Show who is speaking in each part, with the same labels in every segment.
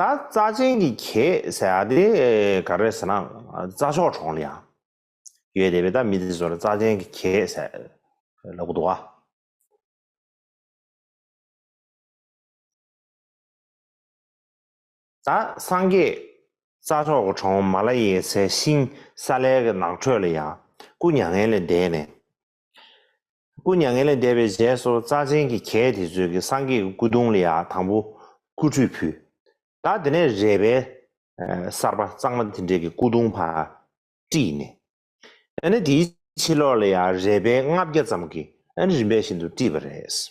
Speaker 1: ད་རྩ་ཆེན་གྱི་གྱེས་ཟེར་ཏེ་ག་རེ་ཟེར་ན་རྩ་མཆོག་གྲོང་ལ་ཡང་ཡོད་དེ་བས་ད་མི་དེ་ཚོར་རྩ་ཆེན་གྱི་གྱེས་ཟེར་ལབ་གི་འདུག་ཨ། ད་སངས་རྒྱས་རྩ་མཆོག་གི་གྲོང་མ་ལ་ཡེ་སའི་ཤིང་སཱ་ལའི་ནགས་ཁྲོད་ལ་ཡང་སྐུ་མྱ་ངན་ལས་འདས་ནས་སྐུ་མྱ་ངན་ལས་འདས་པའི་རྗེས་སུ་རྩ་ཆེན་གྱི་གྱད་དེ་ཚོས་ཀྱི་སངས་རྒྱས་ཀྱི་སྐུ་གདུང་ལ་ཡང་དང་པོ་སྐུ་ཁྲུས་ཕུལ། ད་དེ་ནས་རས་པའི་གསར་པ་གཙང་མ་དེ་འདྲས་ཀྱི་སྐུ་གདུང་བར་དཀྲིས་ནས། ཡང་ན་དེའི་ཕྱི་ལོགས་ལ་ཡང་རས་པའི་ལྔ་བརྒྱ་ཙམ་གྱི་རིམ་པས་ཤིན་ཏུ་དཀྲིས་པ་རེད།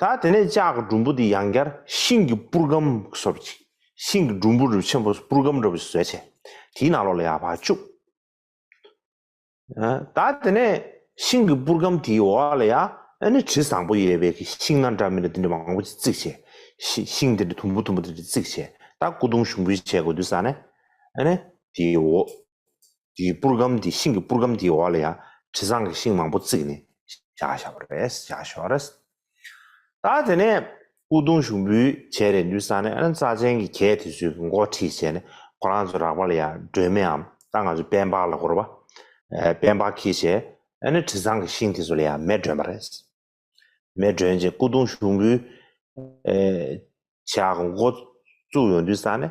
Speaker 1: ད་དེ་ནས་ལྕགས་ཀྱི་གྲུམ་བུ་དེ་ཡང་བསྐྱར་ཤིང་གི་སྤུར་སྒམ་བཟོ་བར་གྱིས། ཤིང་གི་གྲུམ་བུ་རིབ་ཆེན་པོ་སྤུར་སྒམ་འདྲ་བོ་ཞིག་བཟོས། དེའི་ནང་ལོགས་ལ་ཡར་བར་བཅུག། ད་དེ་ནས་ཤིང་གི་སྤུར་སྒམ་དེའི་འོག་ལ་ཡང་ནི་དྲི་བཟང་པོ་ཡོད་པའི་གི་ཤིང་སྣ་འདྲ་མི་འདྲ་དེ་འདྲ་མང་པོ་ཅིག་བརྩིགས། ཤིང་དེ་འདྲ་དུམ་བུ་དུམ་བུ་དེ་འདྲ་བརྩིགས། ད་སྐུ་གདུང་ཞུགས་འབུལ་བྱེད་དགོས་དུས་ས་ནས་དེའི་འོག། དེའི་སྤུར་སྒམ་དེ་ཤིང་གི་སྤུར་སྒམ་དེའི་འོག་ལ་ཡང་དྲི་བཟང་གི་ཤིང་མང་པོ་བརྩིགས་ནས་བཞག་བཞག་པ་རེད་བཞག་ཞོར་རེད། ད་དེ་ནས་སྐུ་གདུང་ཞུགས་འབུལ་བྱས་རེད་འདུག་ས་ནས་ཨ་ནེ་རྩ་ཆེན་གྱི་གྱད་དེ་ཚོའི་མགོ་ཁྲིད་བྱས་ནས་ཁོ་རང་ཚོ་རག་པ་ལ་ཡང་སྒྲོལ་མའམ་ད་ང་ཚོ་པན་པགས་ལ་སྐོར་བ། པན་པགས་ཁྱི་བྱས་ཨ་ནེ་དྲི་བཟང་གི་ཤིང་དེ་ཚོ་ལ་ཡང་མེ་སྒྲོན་པ་རེད། མེ་སྒྲོན་རྗེས་སྐུ་གདུང་ཞུགས་འབུལ་བྱས་མགོ་བཙུགས་ཡོང་དུས་ས་ནས་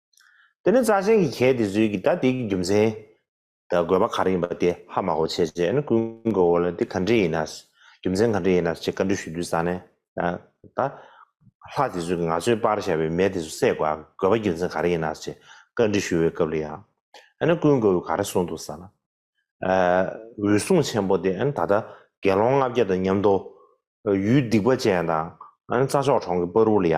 Speaker 1: དེ་ནས་རྩ་ཆེན་གྱི་གྱད་དེ་ཟོས་ཀྱིས་ད་དེའི་རྒྱུ་མཚན། ད་དགོས་པ་ག་རེ་ཡིན་པ་དེ་ཧ་མ་གོ་བྱས་རྗེས་ནི་ཀུན་དགའ་བོ་ལ་དེ་ག་འདྲས་ཡིན་ནའི་རྒྱུ་མཚན་ག་འདྲས་ཡིན་ནའི་ཅེས་བཀའ་འདྲི་ཞུ་དུས་ས་ནས། ད་ལྷ་དེ་ཟོས་ཀྱིས་ང་ཚོའི་སྤར་བཞག་པའི་མེ་དེ་ཚོ་བསད་དགོས་པའི་རྒྱུ་མཚན་ག་རེ་ཡིན་ནའི་ཅེས་བཀའ་འདྲི་ཞུ་བའི་སྐབས་ལ་ཡང། ཨ་ནི་ཀུན་དགའ་བོས་ག་རེ་གསུངས་འདུག་ས་ན། འོད་སྲུང་ཆེན་པོ་དེ་ད་ལྟ་དགེ་སློང་ལྔ་བརྒྱ་དང་མཉམ་དུ། ཡུལ་སྡིག་པ་ཅན་དང་རྩྭ་མཆོག་གྲོང་གི་སྤར་བུ་ལ་ཡ།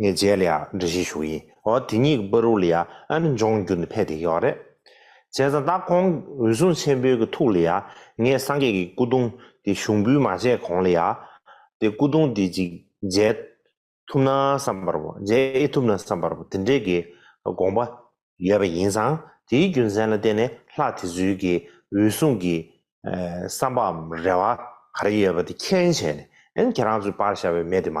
Speaker 1: ངས་རྗེས་ལ་ཡང་འདྲི་བཞིན་བཞུགས་ཡིན་འོ་དེ་གཉིས་ཀྱི་པར་རུ་ལ་ཡང་ཨ་ནི་འབྱུང་འགྱུར་ནི་ཕལ་དེ་ཡོད་རེད། བྱས་ཙང་ད་ཁོང་གི་འོད་སྲུང་ཆེན་པོའི་གི་ཐུགས་ལ་ཡང་ངས་སངས་རྒྱས་ཀྱི་སྐུ་གདུང་དེ་ཞུགས་འབུལ་མ་བྱས་གོང་ལ་ཡང་དེ་སྐུ་གདུང་དེ་ཅིག་མཇལ་ཐུབ་ན་བསམ་པར་བོ་མཇལ་ཨེ་ཐུབ་ན་བསམ་པར་བོ་དེ་འདྲའི་གི་དགོངས་པ་ཡོད་པ་ཡིན་ཙང་དེའི་རྒྱུ་མཚན་ལ་བརྟེན་ནས་ལྷ་དེ་ཚོའི་གི་འོད་སྲུང་གི་བསམ་པའམ་རེ་བ་ག་རེ་ཡོད་པ་དེ་མཁྱེན་བྱས་ནས་ཨན་ཁྱེད་རང་ཚོའི་པར་ཤར་བའི་མེ་དེ་མ་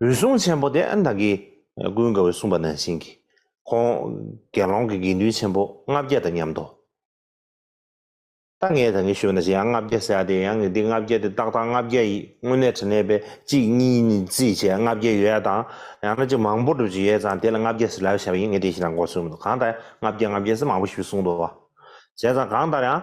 Speaker 1: འོད་སྲུང་ཆེན་པོ་དེ་ཨན་དང་གི་ཀུན་དགའ་བོས་གསུངས་པ་ནང་བཞིན་གྱིས་ཁོང་དགེ་སློང་གི་དགེ་འདུན་ཆེན་པོ་ལྔ་བརྒྱ་དང་མཉམ་དུ་ད་ངས་ད་ངས་ཞུས་པ་ན་ཞེ་ཡང་ལྔ་བརྒྱ་ཟེར་ཡ་དེ་ཡང་འདི་ལྔ་བརྒྱ་དེ་ཏག་ཏག་ལྔ་བརྒྱ་ཡིན་དངོས་གནས་དྲི་ནས་པས་གཅིག་གཉིས་ནི་རྩིས་བྱས་ལྔ་བརྒྱ་ཡོད་ཡ་དང་ཡང་ན་གཅིག་མང་པོ་སྒྲུབ་བྱེད་ཡོད་ཙང་དེ་ལ་ལྔ་བརྒྱ་ཟེར་ལབ་བྱས་པ་ཡིན་ངས་དེ་བཞིན་དང་གོ་གསུངས་མི་འདུག་གང་ལྟར་ལྔ་བརྒྱ་ལྔ་བརྒྱ་ཟེར་མང་པོ་ཞིག་གསུངས་འདུག་བ་བྱས་ཙང་གང་ལྟར་ཡང་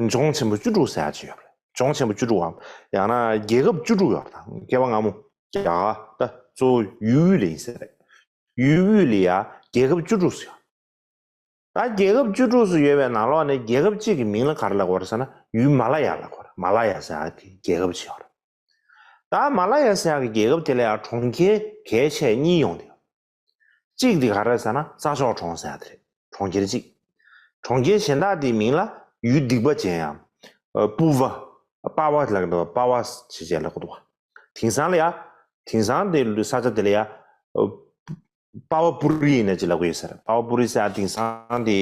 Speaker 1: ལྗོངས་ཆེན་པོ་བཅུ་དྲུག་ས་ཡ་གཅིག་ཡོད་པ་རེད་ལྗོངས་ཆེན་པོ་བཅུ་དྲུག་འམ་ཡང་ན་རྒྱལ་ཁབ་བཅུ་དྲུག་ཡོད་པ་དང་སྐྱེ་བ་སྔ་མོ་རྒྱ་གར་ད་གཙོ་བོ་ཡུལ་དབུས་ལ་ཡིན་ས་རེད་ཡུལ་དབུས་ལ་ཡ་རྒྱལ་ཁབ་བཅུ་དྲུག་སུ་ཡོད། ད་རྒྱལ་ཁབ་བཅུ་དྲུག་སུ་ཡོད་པའི་ནང་ལོགས་ནས་རྒྱལ་ཁབ་གཅིག་གི་མིང་ལ་ག་རེ་ལ་གོ་རེ་ཟེར་ན་ཡུལ་མ་ལ་ཡ་ལ་གོ་རེད་མ་ལ་ཡ་ས་ཡ་གི་རྒྱལ་ཁབ་ཅིག་ཡོད་རེད་ད་མ་ལ་ཡ་ས་ཡ་གི་རྒྱལ་ཁབ་དེ་ལ་ཡ་གྲོང་ཁྱེར་གས་ཆད་གཉིས་ཡོང་དེ་ཡོད་གཅིག་དེ་ག་རེད་ཟེར་ན་ས་ཆོག་གྲོང་ཟེར་ཡ་དེ་རེད་གྲོང་ཁྱེར་གཅིག། གྲོང་ཁྱེར་གཞན་དག་དེའི་མིང་ལ་ཡུལ་སྡིག་པ་ཅན་ཡང། པུ་བ། པ་བ་ལ་གདོ་བ་པ་བ་ཞེས་བྱས་ལ་གོ་དོ། དིང་སང་ལ་ཡ། དིང་སང་དེ་ས་ཆ་དེ་ལ་ཡ། པ་བ་པུ་རི་ཡིན་ན་ཅི་ལ་གོ་ཡོད་ཟེར་པ་བ་པུ་རི་ས་ཡ་དིང་སང་དེ།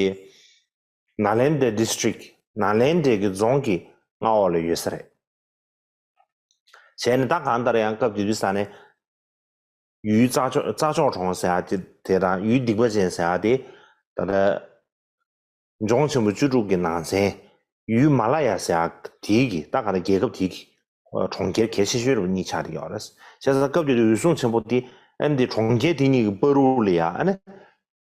Speaker 1: ན་ལན་དའི District ན་ལན་དའི་གི་རྫོང་གི་མངའ་འོག་ལ་ཡོད་ས་རེད། བྱས་ནས་ད་གང་ལྟར་ཡང་སྐབས་དེ་དུས་ས་ནས། ཡུལ་རྩྭ་མཆོག་གྲོང་ཟེར་བ་དེ་དང་ཡུལ་སྡིག་པ་ཅན་ཟེར་བ་དེ་ད་ལྟ་ལྗོངས་ཆེན་པོ་བཅུ་དྲུག་གི་ནང་ཚན་ཡུལ་མ་ལ་ཡ་ཟེར་བ་དེའི་གི་ད་ག་ལ་རྒྱལ་ཁབ་དེའི་གི་གྲོང་ཁྱེར་གལ་ཆེ་ཤོས་རུ་གཉིས་ཆགས་ཏེ་ཡོད་རེད། བྱས་ཙང་སྐབས་དེ་དུས་འོད་སྲུང་ཆེན་པོ་དེ་ཨན་དེ་གྲོང་ཁྱེར་དེ་གཉིས་གི་པ་རུ་ལ་ཡ་ཨ་ནི་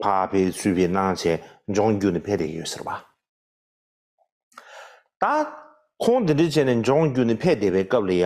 Speaker 1: ཕ་བེ་ཚུལ་བེ་སྣང་བྱས་ལྗོངས་བརྒྱུད་ནས་ཕེབས་བསྡད་ཡོད་ཟེར་བ། ད་ཁོང་དེ་འདྲ་བྱས་ནས་ལྗོངས་བརྒྱུད་ནས་ཕེབས་བསྡད་པའི་སྐབས་ལ་ཡ།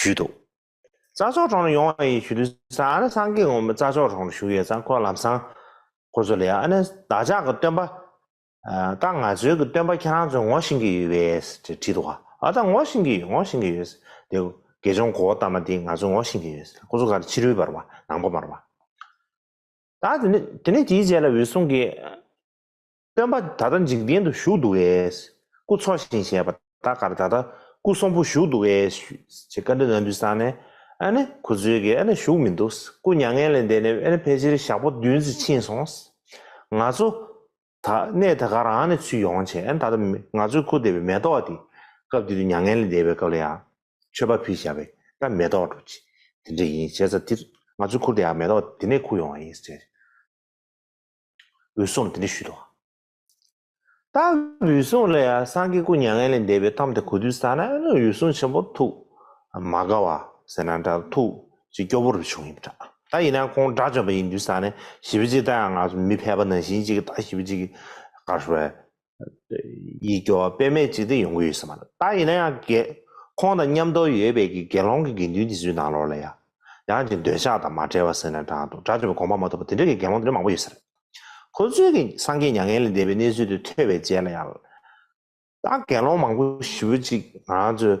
Speaker 1: ཞུས་འདུག། རྩ་མཆོག་གྲོང་རུ་ཡོང་བ་ཡིན་ཞུས་དུས་ས་ཨར་སངས་རྒྱས་དགོངས་པའི་རྩ་མཆོག་གྲོང་རུ་བཞུགས་ཡོད་ཙང་ཁོ་ལམ་སང་ཁོ་ཚོ་ལས་ཨ་ནེ་བདག་ཅག་གི་སྟོན་པ། ད་ང་ཚོའི་གི་སྟོན་པ་ཁྱེད་རང་ཚོས་ངོ་བཞིན་གི་ཡོད་བས་ཅེས་དྲིས་འདུག་ཨ་ད་ངོ་བཞིན་གི་ཡོད་ངོ་བཞིན་གི་ཡོད། དེ་དགེ་སྦྱོང་གོ་བོ་དམ་པ་འདིས་ང་ཚོ་ངོ་བཞིན་གི་ཡོད་ཁོ་ཚོ་གར་ཕྱི་རོལ་བར་བ་ནང་པ་མར་བ། ད་དེ་ནི་དེ་ནི་དེའི་རྗེས་ལ་འོད་སྲུང་གིས། སྟོན་པ་ད་ལྟ་འཇིག་རྟེན་དུ་བཞུགས་འདུག་ཨེས། སྐུ་འཚོ་ཞིང་བཞེད་པ་ད་གར་ད་ལྟ་སྐུ་གསོན་པོ་བཞུགས་འདུག་ཨེས་ཞུས། ཅེས་བཀའ་དྲིན་ནན་ཏུ་བསགས་ནས། ཨ་ནི་གུ་ཚོལ་གྱིས་ཨ་ནི་བཞུགས་མི་འདུག། སྐུ་མྱ་ངན་ལས་འདས་ནས་ཨ་ནི་ཕལ་ཆེར་ཞག་པོ་བདུན་ཟིན་ཕྱིན་སོང། ང་ཚོ། ད་གནས་ད་གར་ཨ་ནི་ཚུད་ཡོང་བྱས་ཨ་ནི་ད་ལྟ་ང་ཚོའི་ཁུར་འདེབས་པའི་མེ་ཏོག་དེ། སྐབས་དེ་དུས་མྱ་ངན་ལས་འདས་པའི་སྐབས་ལ་ཡང། མཆོད་པ་ཕུལ་བྱ་བའི་སྐབས་མེ་ཏོག་འགྲོ། དེ་འདྲ་ཡིན་བྱས་ཙང་དེར་ང་ཚོའི་ཁུར་དེའང་མེ་ཏོག་དེ་ནས་ཁུར་ཡོང་བ་ཡིན། ཅེས། འོད་སྲུང་འདི་འདྲི་ཞུས་དང། རྟགས་འོད་སྲུང་ལ་ཡང་སངས་རྒྱས་སྐུ་མྱ་ངན་ལས་འདས་པའི་གཏམ་དེ་གོ་དུས་ས་ན་འོད་སྲུང་ཆེན་པོ་ཐུག་མ་དགའ་བ་ཟེར་ན་འདྲ་ཐུག་ཅིག་སྐྱོ་བོ་རུ་བྱུང་ཡིན་པ་འདྲ་ད་ཡིན་ན་ཁོང་དགྲ་བཅོམ་པ་ཡིན་དུས་ས་ནས་ཞི་བ་གཅིག་ལྟ་ཡང་ང་ཚོ་མི་ཕལ་པ་ནང་བཞིན་ཅིག་ད་ཞི་བ་གཅིག་གིས་དགའ་ཞོར་བས་ཡིད་སྐྱོ་བ་དཔེ་མེད་ཅིག་དེ་ཡོང་གི་ཡོད་ས་མ་རེད་ད་ཡིན་ན་ཡང་དགེ། ཁོང་དང་མཉམ་འདོར་ཡོད་པའི་གི་དགེ་སློང་གི་དགེ་འདུན་དེ་ཚོའི་ནང་ལོགས་ལ་ཡ། ཡང་ཅིག་འདོད་ཆགས་དང་མ་བྲལ་བ་ཟེར་ན་འདྲ་འདུག་དགྲ་བཅོམ་པའི་དགོངས་པ་མ་ཐོབ་པ་དེ་འདྲ་གི་དགེ་སློང་དེ་འདྲ་མང་པོ་ཡོད་ས་རེད། ཁོ་ཚོས་གི་སངས་རྒྱས་མྱ་ངན་ལས་འདས་པའི་གནས་ཚུལ་དེ་ཐོས་པའི་རྗེས་ལ་ཡང། ད་དགེ་སློང་མང་པོ་ཞི་བོ་ཅིག་ང་ཚོས།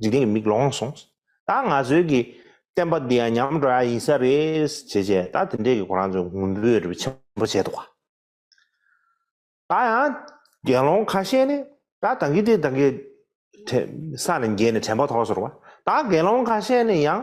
Speaker 1: འཇིག་རྟེན་གྱི་མིག་ལོང་སོང། ད་ང་ཚོའི་གི་བསྟན་པ་འདི་ཡང་ཉམས་འགྲོ་ཡ་ཡིན་ས་རེད། བྱས་བྱས་ད་དེ་འདྲས་གི་གོ་རང་ཚོས་ངུ་འབོད་རེ་ཆེན་པོ་བྱས་འདུག། ད་ཡང་དགེ་སློང་ཁ་ཤས་ནི་ད་དང་གི་དེ་དང་གི་ས་ནས་འགྱེལ་ནས་དྲན་པ་ཐོག་སོར་བ། ད་དགེ་སློང་ཁ་ཤས་ནི་ཡང།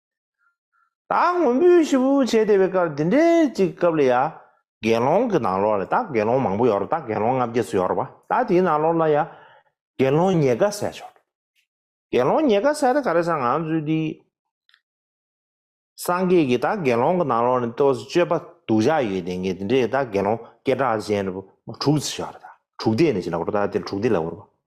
Speaker 1: ད་ངུ་འབོད་ཞུ་འབོད་བྱས་བསྡད་པའི་སྐབས་འདི་འདྲའི་ཅིག་སྐབས་ལ་ཡ། དགེ་སློང་གི་ནང་ལོགས་ལ་ད་དགེ་སློང་མང་པོ་ཡོད་རོ་ད་དགེ་སློང་ལྔ་བརྒྱད་ཅུ་ཡོད་རོ་བ་ད་དེའི་ནང་ལོགས་ལ་ཡ། དགེ་སློང་ཉེ་དགའ་བསད་ཆོག། དགེ་སློང་ཉེ་དགའ་བསད་ད་ག་རེ་ཟ་ང་ཚོས་འདི། སངས་རྒྱས་ཀྱི་ད་དགེ་སློང་གི་ནང་ལོགས་ནས་ལྟོས་སུ་སྤྱོད་པ་གདུལ་བྱ་ཡོད་དེ་ངས་འདི་འདྲའི་ད་དགེ་སློང་སྐད་གྲགས་ཅན་དྲུག་བརྩི་ཆོག་ར་ད་དྲུག་སྡེ་ནས་ཅི་ལ་གོ་རོ་ད་དེ་དྲུག་སྡེ་ལ་གོ་རོ་བ།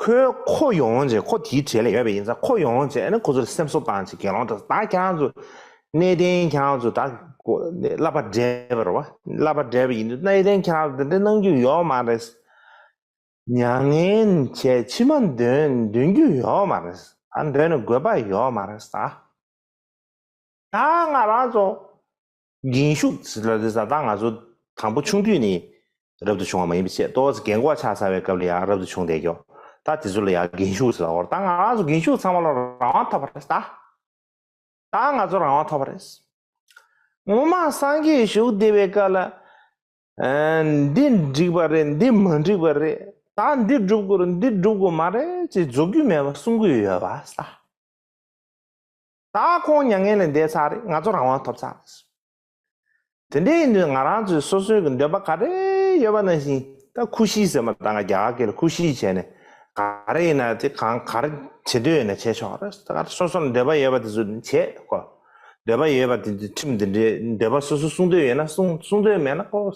Speaker 1: ཁོས་ཁོ་ཡོང་ཡོང་བྱས་ཁོ་དེའི་གྲས་ལས་ཡོད་པ་ཡིན་ཙང་ཁོ་ཡོང་ཡོང་བྱས་ནས་ཁོ་ཚོར་སེམས་གསོ་བཏང་བྱས་དགེ་སློང་དག་ད་ཁྱེད་རང་ཚོ་གནས་བརྟན་ཁྱེད་རང་ཚོ་ད་བསླབ་པ་བསྒྲལ་བ་རེད་བ་བསླབ་པ་བསྒྲལ་བ་ཡིན་དུས་གནས་བརྟན་ཁྱེད་རང་ཚོ་དེ་འདྲ་གནང་རྒྱུ་ཡོད་མ་རེད། མྱ་ངན་བྱས་མཆི་མ་འདོན་རྒྱུ་ཡོད་མ་རེད་ད་འདོན་ནས་དགོས་པ་ཡོད་མ་རེད། ད་ང་རང་ཚོ་འགན་ཞུགས་ཟ་ཟ་ཟ་ད་ང་ཚོ་དང་པོ་ཆུང་དུས་ནས་རབ་ཏུ་བྱུང་བ་མ་ཡིན་པའི་ཆེད་ཏོ་ཟ་གན་གོ་ཆ་ཟ་བའི་སྐབས་ལ་ཡང་རབ་ཏུ་བྱུང་བསྡད་ཀྱོ་ད་དེ་ཚོ་ལ་ཡང་འགན་ཞུགས་ཟ་ཧོར་ད་ང་ཚོ་འགན་ཞུགས་ཚང་མ་ལ་རང་དབང་ཐོབ་པ་རེད་ད་ད་ང་ཚོ་རང་དབང་ཐོབ་པ་རེད། ངོ་མ་སངས་རྒྱས་བཞུགས་བསྡད་པའི་སྐབས་ལ་འདི་འགྲིག་པ་རེད་འདི་མ་འགྲིག་པ་རེད་ད་འདི་སྒྲུབ་དགོས་འདི་སྒྲུབ་དགོས་མ་རེད་ཅེས་རྫོགས་རྒྱུ་མེད་པ་གསུང་གི་ཡོད་པ་ད། ད་ཁོང་མྱ་ངན་ལས་འདས་ཚར་རེད་ང་ཚོ་རང་དབང་ཐོབ་ཚར་རེད། དེ་འདྲའི་དུས་ང་རང་ཚོའི་སོ་སོའི་གི་འདོད་པ་ག་རེ་ཡོད་པ་ནང་བཞིན་ད་ཁུ་བཞི་ཟེར་མ་ད་ང་རྒྱ་གར་གི་ལ་ཁུ་བཞི་བྱས་ནས་ག་རེ་ཡིན་ན་དེ་གང་ག་རེ་བྱེད་འདོད་ཡོད་ན་བྱས་ཆོག་རེད་ད་ག་སོ་སོ་ལ་འདོད་པ་ཡོད་པ་དེ་ཚོ་བྱས་ཁོ། འདོད་པ་ཡོད་པ་དེ་ཚོའི་ཁྲིམས་དེ་འདྲའི་འདོད་པ་སོ་སོ་གསུང་འདོད་ཡོད་ན་གསུང་གསུང་འདོད་མེད་ན་ཁོ།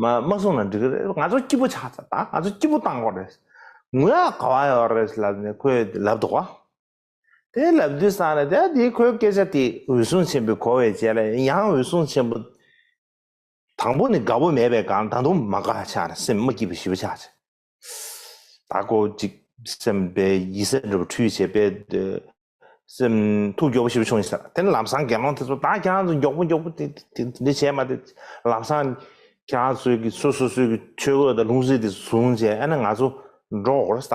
Speaker 1: མ་མ་གསུང་ན་འགྲིག་གི་རེད་ང་ཚོ་སྐྱིད་པོ་ཆགས་ཚར་ད་ང་ཚོ་སྐྱིད་པོ་བཏང་དགོས་རེད། ངུ་ཡག་ག་བ་ཡོད་རེད་ལབ་ནས་ཁོས་ལབ་འདུག་བ། དེ་ལབ་དུས་སང་རེད་ད་དེ་ཁོའི་སྐད་ཆ་དེ་འོད་སྲུང་ཆེན་པོའི་གོ་བའི་རྗེས་ལ་ཡང་འོད་སྲུང་ཆེན་པོ། དང་པོ་ནི་དགའ་བོ་མེད་པའི་སྒང་ད་དུང་མ་དགའ་ཆགས་སེམས་མ་སྐྱིད་པའི་ཞི་བ་ཆགས་ཆེ། ད་གོ་ཅིག་སེམས་པའི་ཡིད་སེམས་འགྲོ་བ་འཁྲུལ་བྱེད་པའི། སེམས་ཐུགས་མགྱོགས་པོ་ཞི་བ་བྱུང་ཡིན་ཟེར་དེ་ལམ་སང་དགེ་སློང་དེ་ཚོ་ད་ཁྱེད་རང་ཚོ་མགྱོགས་པོ་མགྱོགས་པོ་དེ་དེ་འདི་བྱས་མ་དེ་ལམ་སང་ཁྱེད་རང་ཚོའི་གི་སོ་སོ་སོའི་གི་ཆོས་གོས་དང་ལྷུང་བཟེད་དེ་བཟུང་བྱས་ཨེ་ན་ང་ཚོ་འགྲོ་འོང་ས་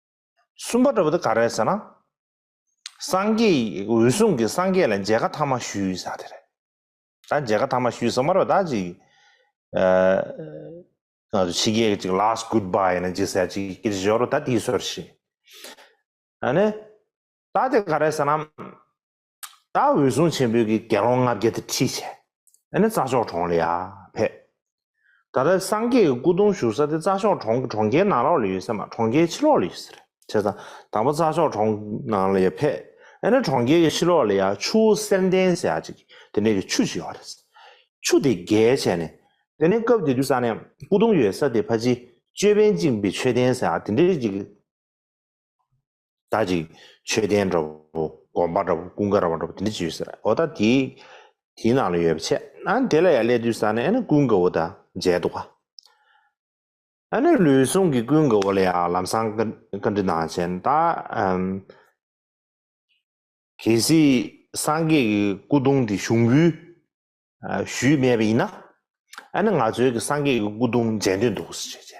Speaker 1: གསུམ་པ་འགྲོ་བ་འདི་ག་རེད་ཟེར་ན། སངས་རྒྱས་འོད་སྲུང་གིས་སངས་རྒྱས་ལ་མཇལ་ཁ་ཐ་མ་ཞུས་ས་དེ་རེད། ད་མཇལ་ཁ་ཐ་མ་ཞུས་ས་མ་རེད་བདག་ཅིག་ང་ཚོ་ཕྱི་རྒྱལ་གྱི་ཅིག last good bye ཡིན་ན་ཅིག་ཟེར་ཅིག་སྐད་ཅིག་ཞོར་དུ་ད་དེའི་སོར་བཞི། ཨ་ནི། ད་དེ་ག་རེད་ཟེར་ན། ད་འོད་སྲུང་ཆེན་པོའི་གི་དགེ་སློང་ལྔ་བརྒྱ་དེ་ཁྲིད་བྱས། ཨེ་ནས་རྩྭ་ཤོག་གྲོང་ལ་ཡ། ཕེབས། ད་ལྟ་སངས་རྒྱས་ཀྱི་སྐུ་གདུང་བཞུགས་ས་དེ་རྩྭ་ཤོག་གྲོང་གི་གྲོང་ཁྱེར་ནང་ལོགས་ལ་ཡོད་ཟེར་མ་གྲོང་ཁྱེར་ཕྱི་ལོགས་ལ་ཡོད་ཟེར། བྱས་ཙང་དང་པོ་རྩྭ་ཤོག་གྲོང་ནང་ལ་ཡ་ཕེབས། ཨེ་ནས་གྲོང་ཁྱེར་གྱི་ཕྱི་ལོགས་ལ་ཡ་ཆུ་བོ་གསེར་ལྡན་ཟེར་ཡ་ཅིག་དེ་ནས་གི་ཆུ་ཞིག་ཡོད་རེད། ཆུ་དེ་བརྒལ་བྱས་ནས། དེ་ནས་སྐབས་དེ་དུས་ས་ནས་སྐུ་གདུང་ཡོད་ས་དེ་ཕ་ཅིའི་ཅོད་པན་བཅིངས་པའི་མཆོད་རྟེན་ཟེར་ཡ་དེ་འདྲ་ཅིག། ད་ཅིག་མཆོད་རྟེན་འདྲ་བོ་དགོན་པ་འདྲ་བོ་ཀུན་དགའ་ར་བ་འདྲ་བོ་དེ་འདྲ་ཅིག་ཡོད་ཟེར་ཨོ་ད་དེ་དེའི་ནང་ལ་ཡོད་པ་ཆད་ཨ་དེ་ལ་ཡང་སླེབས་དུས་ས་ནས་ཨ་ནི་ཀུན་དགའ་བོ་དང་མཇལ་འདུག་ག་ཨ་ནི་ལུས་ཟུངས་ཀྱི་ཀུན་དགའ་བོ་ལ་ཡང་ལམ་སང་བཀའ་བཀའ་འདྲི་གནང་བྱས་ན་ད་གལ་སྲིད་སངས་རྒྱས་ཀྱི་སྐུ་གདུང་དེ་ཞུགས་འབུལ་ཞུས་མེད་པ་ཡིན་ན་ཨ་ནི་ང་ཚོའི་གི་སངས་རྒྱས་ཀྱི་སྐུ་གདུང་མཇལ་འདོད་འདུག་ཟེར་བྱས་བྱས།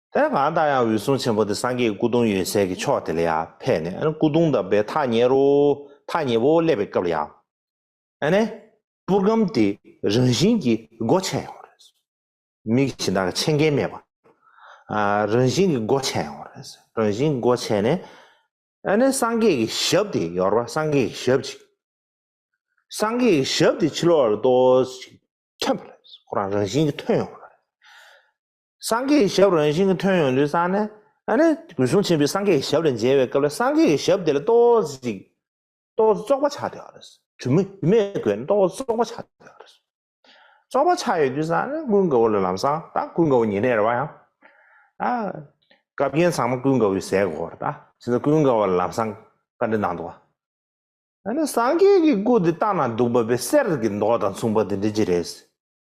Speaker 1: དེ་གང་ལྟར་ཡང་འོད་སྲུང་ཆེན་པོ་དེ་སངས་རྒྱས་ཀྱི་སྐུ་གདུང་ཡོད་སའི་གི་ཕྱོགས་དེ་ལ་ཡང་ཕེབས་ནས་སྐུ་གདུང་བསྡམས་པའི་ཐག་ཉེ་རུ་ཐག་ཉེ་བོ་སླེབས་པའི་སྐབས་ལ་ཡང། ཨ་ནེ། པུར་སྒམ་དེ་རང་བཞིན་གྱིས་སྒོ་ཕྱེ་ཡོང་རེད་ཟེར། མིག་གཞི་བདག་གི་ཕྱེ་མཁན་མེད་པར། རང་བཞིན་གྱིས་སྒོ་ཕྱེ་ཡོང་རེད་ཟེར། རང་བཞིན་གྱིས་སྒོ་ཕྱེ་ནས། ཨ་ནེ་སངས་རྒྱས་ཀྱི་ཞབས་དེ་ཡོར་བ་སངས་རྒྱས་ཀྱི་ཞབས་ཅིག། སངས་རྒྱས་ཀྱི་ཞབས་དེ་ཕྱི་ལོགས་ལ་ལྟོས་ཤིག། ཁྱབ་པ་རེད་ཟེར། ཁོ་རང་རང་བཞིན་གྱིས་ཐོན་ཡོང་རེད། སངས་རྒྱས་ཀྱི་ཞབས་རང་བཞིན་གྱི་མཐོན་ཡོང་ལུས་བསྲངས་ནས། གུས་གསུང་ཆེན་པོས་སངས་རྒྱས་ཀྱི་ཞབས་ལ་མཇལ་བའི་སྐབས་ལ་སངས་རྒྱས་ཀྱི་ཞབས་དེ་ལ་ལྟོ་ཟིག། ལྟོ་ཟིག་བཙོག་པ་ཆགས་ཡོད་རེད། གྲུ་མེད་ཡུ་མེད་བགོས་ནས་ལྟོ་ཟིག་བཙོག་པ་ཆགས་ཡོད་རེད། བཙོག་པ་ཆགས་ཡོད་དུས་སང་ཀུན་དགའ་བོ་ལ་ལམ་སང་ད་ཀུན་དགའ་བོ་ཉིན་རེར་བ་ཡང། སྐབས་རྒྱན་ཚང་མ་ཀུན་དགའ་བོའི་ཟས་གོ་རེད། ཕྱིན་ད་ཀུན་དགའ་བོ་ལ་ལམ་སང་བཀའ་འདྲི་གནང་འདུག་བ། སངས་རྒྱས་ཀྱི་སྐུ་དེ་ལྟ་ན་སྡུག་པ་པའི་གསེར་གྱི་མདོག་དང་མཚུངས་པ་དེ་འདྲི་གྱི་རེད།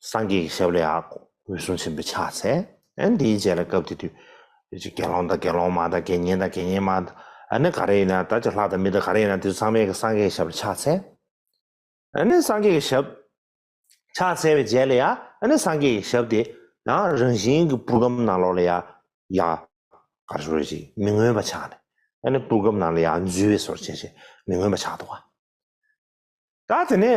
Speaker 1: སངས་རྒྱས་ཀྱི་ཞབས་ལ་ཡང་འོད་སྲུང་ཆེན་པོས་ཕྱག་འཚལ། ཨན་དེའི་རྗེས་ལ་སྐབས་དེ་དུས། ཅིག་དགེ་སློང་དང་དགེ་སློང་མ་དང་དགེ་བསྙེན་དང་དགེ་བསྙེན་མ། ཨ་ནི་ག་རེ་ཡིན་ན་ད་ཅིག་ལྷ་དང་མི་དང་ག་རེ་ཡིན་ན་དེ་ཚོ་ཚང་མས་ཀྱང་སངས་རྒྱས་ཀྱི་ཞབས་ལ་ཕྱག་འཚལ། ཨ་ནི་སངས་རྒྱས་ཀྱི་ཞབས། ཕྱག་འཚལ་བའི་རྗེས་ལ་ཡང་ཨ་ནི་སངས་རྒྱས་ཀྱི་ཞབས་དེ། ཡང་རང་བཞིན་གྱི་པུར་སྒམ་ནང་ལོགས་ལ་ཡང། ཡང། གར་སོར་ཅིག་མི་མངོན་པ་ཕྱག་ནས། ཨ་ནི་པུར་སྒམ་ནང་ལ་ཡང་འཛུལ་བའི་སོར་བཅད་བྱས། མི་མངོན་པ་ཕྱག་ཏུ་བ། ད་དེ་ནས།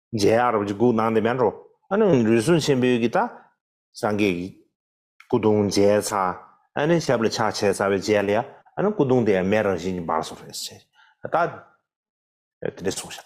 Speaker 1: རྗེ་ཨ་རབ་ཀྱི་སྐུ་སྣང་དེ་མེད་འགྲོ། ཨ་ནི་རུས་སྲུང་ཆེན་པོའི་གིས་ད། སངས་རྒྱས་ཀྱི། སྐུ་གདུང་མཇལ་ཚ། ཨ་ནི་ཞབས་ལ་ཕྱག་འཚལ་ཚ་བའི་རྗེས་ལ་ཡ། ཨ་ནི་སྐུ་གདུང་དེ་ཡང་མེད་རང་བཞིན་གྱི་འབར་སོང་རེད། ད། དེ་འདྲས་སོང་ཤག།